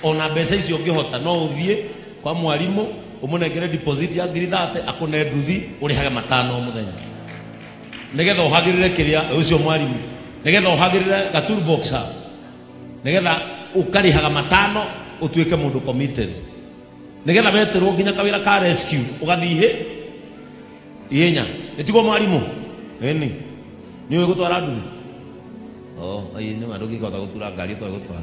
ona mbeca icio ũngĩhota no ũthiĩ kwa mwarimũ ũmũnengere deposit ya ngiri thate akũne nduthi ũrĩhage matano o mũthenya nĩgetha ũhagĩrĩre kĩrĩa ũcio mwarimũ nĩgetha ũhagĩrĩre ga tool box hau nĩgetha ũkarĩhaga matano ũtuĩke mũndũ committed nĩgetha weterwo nginya kawĩra ka rescue ũgathiĩ ihenya nĩtigwo mwarimũ ĩni nĩ ũĩ gũtwara nduthi oh ayi nĩ ma ndũngĩkota gũtura ngari ũtoĩ gũtwara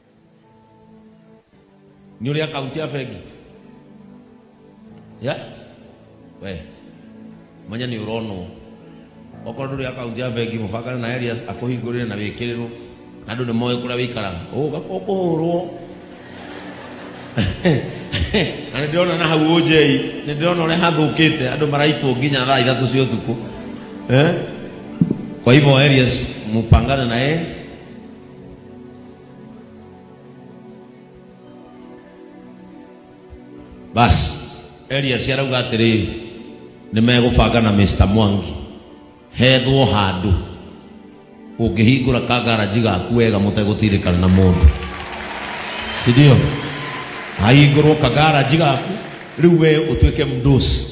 nĩ ũrĩ akaunti ya bengi ya we manya nĩ ũronwo okorwo ndũrĩ akaunti ya bengi mũbangane na Elias akũhingũrĩre na wĩkĩrĩrwo na andũ nĩ moĩ kũrĩa wĩikaraga ũga ũkũhũrwo na nĩ ndĩrona na hau ũnjei nĩ ndĩrona ũrĩa hathũkĩte andũ maraitwo nginya thaa ithatũ cia ũtukũ eh? kwa hivyo Elias mupangane na yeye basi eliasi arauga atĩrĩrĩ nĩ megũbanga na mr mwangi hethwo handũ ũngĩhingũra kangaraji gaku wega mũtegũtirĩkana na mũndũ sindio hahingũrwo kangaraji gaku rĩu we ũtuĩke mdosi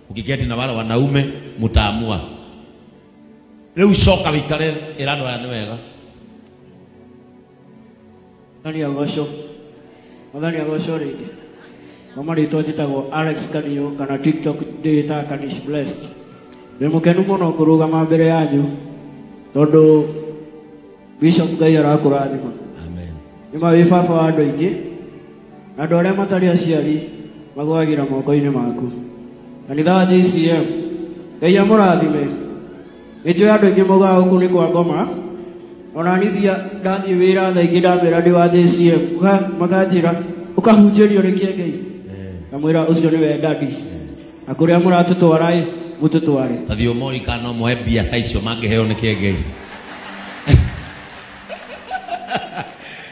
Mkiketi na wale wanaume mtaamua. Riu coka wikare ira andu aya ni wega. Mwathani agocwo mwathani agocwo rĩngĩ mama rĩtwa njĩtagwo alex kaniyo kana tiktok ndĩĩtaga kanish blessed ndĩ mũkenu mũno kũrũgama mbere yanyu tondũ bishop ngai arakũrathima Amen. nĩ mawĩ baba wa andũ aingĩ na andũ arĩa matarĩ aciari magwagĩra moko-inĩ maku kanitha wa jcm ngai amũrathime nĩ njũĩ andũ aingĩ mogaga gũkũ nĩ kwa ngoma ona nithia ndathiĩ wĩra tha ingĩ ndamĩra ndĩ wa jcm Ũka- makanjĩra ũkahunjĩrio nĩ kĩengei ngamwĩra ũcio nĩ we ndadi na kũrĩa mũratũtwara-ĩ mũtũtware Athiĩ ũmoĩ kana ũmoe mbia ta icio mangĩheo nĩ kĩengei.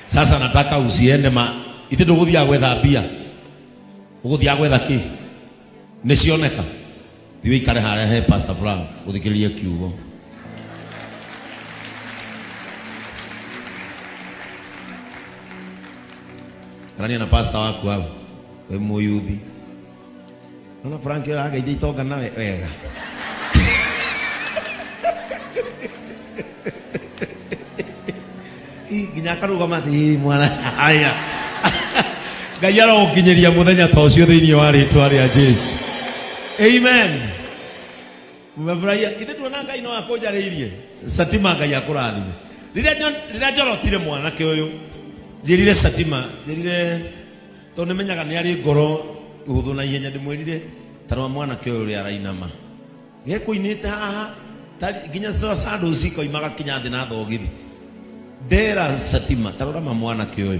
sasa nataka usiende ma ithe ndũgũthiaga gwetha mbia ũgũthiaga gwetha kĩ nĩ cioneka thiĩ ũikare harĩa he pastor Frank ũthikĩrĩrie kiugo karania na pastor waku hau wĩ mũyuthi Ona Frank ũrageithia itonga na we- wega. Ii, Nginya akarũgama atĩ "Ii, mwana haya. Ngai arogũkinyĩria mũthenya ta ũcio thĩinĩ wa rĩtwa rĩa Jesu. Amen. Mmefurahia. Ithe tuona Ngai no akũnjarĩirie. Satima Ngai akũrathime. Rĩrĩa nyo- rĩrĩa njorotire mwanake ũyũ, njĩrire Satima, njĩrire Tondũ nĩmenyaga nĩarĩ ngoro hũthũ na ihenya ndĩmwĩrire, Ta rora mwanake ũyũ ũrĩa arainama. Gekũinĩte haha, ta ri- nginya sa- sandals ikoima gakinya thĩ na thogithi. Ndera Satima, ta rora ma mwanake ũyũ.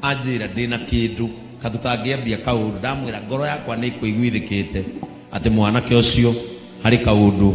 Anjĩra ndĩ na kĩndũ, ka tũtangĩambia kaũndũ. Ndamwĩra ngoro yakwa nĩĩkũiguithĩkĩte atĩ mwanake ũcio harĩ kaũndũ.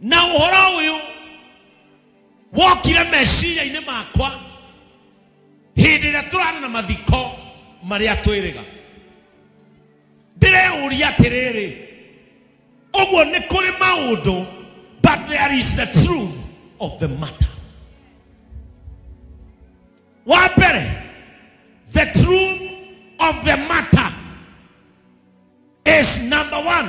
na ũhoro ũyũ wokire meciria-inĩ makwa hĩndĩ ĩrĩa tũrarĩ na mathiko marĩa twĩrĩga ndĩreũria atĩrĩrĩ ũguo nĩ kũrĩ maũndũ but there is the truth of the matter wa mbere the truth of the matter is number one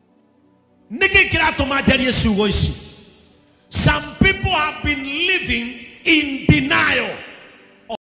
nĩkĩ kĩratũma njarie ciugo ici some people have been living in denial